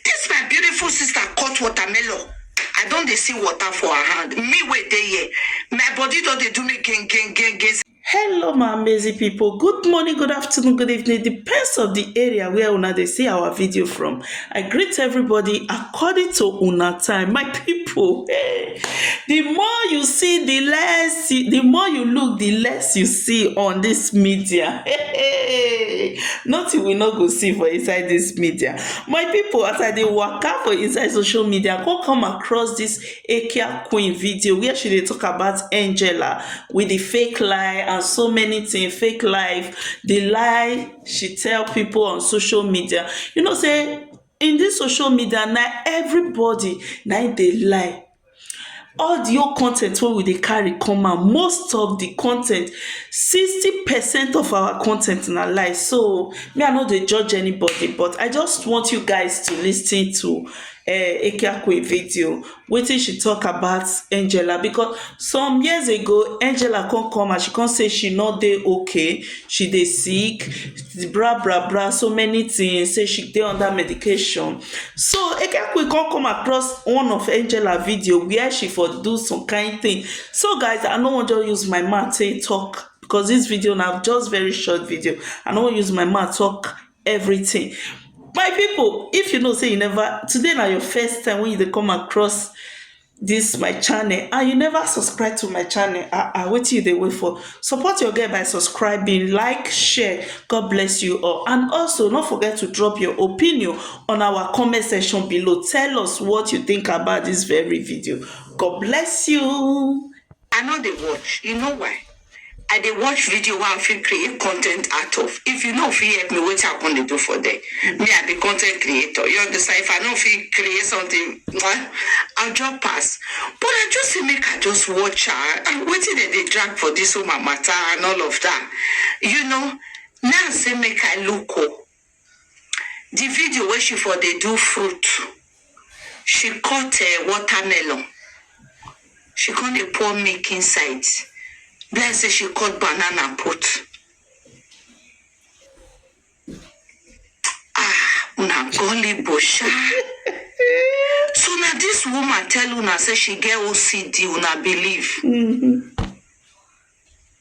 This my beautiful sister cut watermelon. I don dey see water for her hand. Me wey dey here, my body don dey do me gen gen gen gen. Hello my amazing people, good morning, good afternoon, good evening, depends on the area where una dey see our video from. I greet everybody according to una time, my people. Hey. Di more you see di less, di more you look di less you see on dis media heey, notin we no go see for inside dis media. My pipu as I dey waka for inside social media I kon come across dis Ekia queen video where she dey talk about Angela wit di fake lie and so many tin, fake life, di lie she tell pipu on social media. You know sey. In this social media na everybody na im dey lie all the whole content wey we dey carry come out most of the content sixty percent of our content na lie so me I no dey judge anybody but I just want you guys to listen to um Ekiakoe video wetin she talk about angela because some years ago angela come come and she come say she no dey okay she dey sick bra bra bra so many things say she dey under medication so ekekwe come come across one of angela video where she for do some kind thing so guys i no wan just use my mouth take talk because this video na just very short video i no wan use my mouth talk everything. My people if you know say you never today na your first time when you dey come across this my channel and you never subscribe to my channel ah ah wetin you dey wait for support your girl by subscribing like share god bless you all and also no forget to drop your opinion on our comment section below tell us what you think about this very video god bless you I no dey watch you know why I dey watch video wey I fit create content out of if you no fit help me wetin I come dey do for there me I be content creator you understand if I no fit create something mwah, I just pass but I just say make I just watch her and wetin dem dey drag for this woman matter and all of that you know now I say make I look o. Di video wey she for dey do fruit, she cut um watermelon, she come dey pour milk inside, be like sey she cut banana put. um una gullible sha. So na dis woman tell una sey she get OCD una believe? um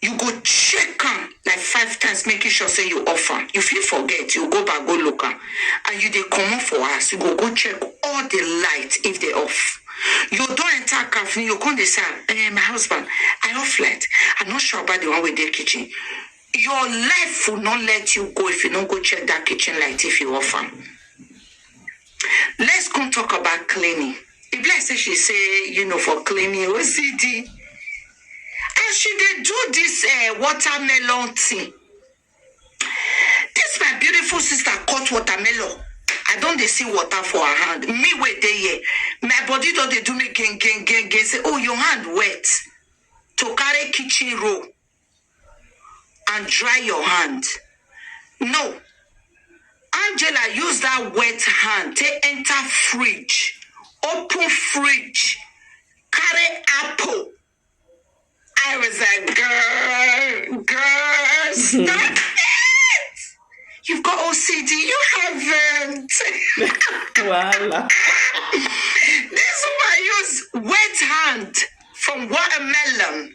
You go check am like five times making sure say you off am, you fit forget, you go back go look am and you dey comot for house you go go check all the light if dey off, you don enter car finish you go come dey say um my husband I off light I no sure about the one wey dey kitchen, your life will not let you go if you no go check that kitchen light if you off am. Let's come talk about cleaning. If like say she say, you know, for cleaning OCD. As she dey do this uh, watermelon thing, this my beautiful sister cut watermelon. I don't dey see water for her hand. Me wait there here. My body don't dey do me gain, gain, gain, gain. Say, oh, your hand wet. To carry kitchen roll. and dry your hand no angela use that wet hand take enter fridge open fridge carry apple i was like girl girl stop it you've got ocd you haven't Voila. this woman use wet hand from watermelon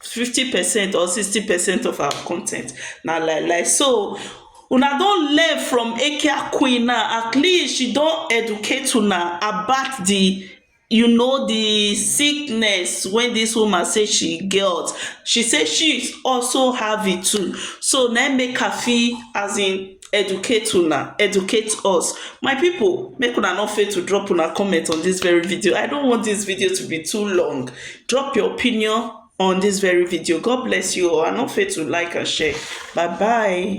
fifty percent or sixty percent of our con ten t na lie lie so una don learn from eke akwin na at least she don educate una about the you know the sickness wey this woman say she get she say she also have it too so na him make her fit as in educate una educate us my people make una no fail to drop una comment on this very video i don't want this video to be too long drop your opinion on this very video god bless you all and no fail to like and share bye bye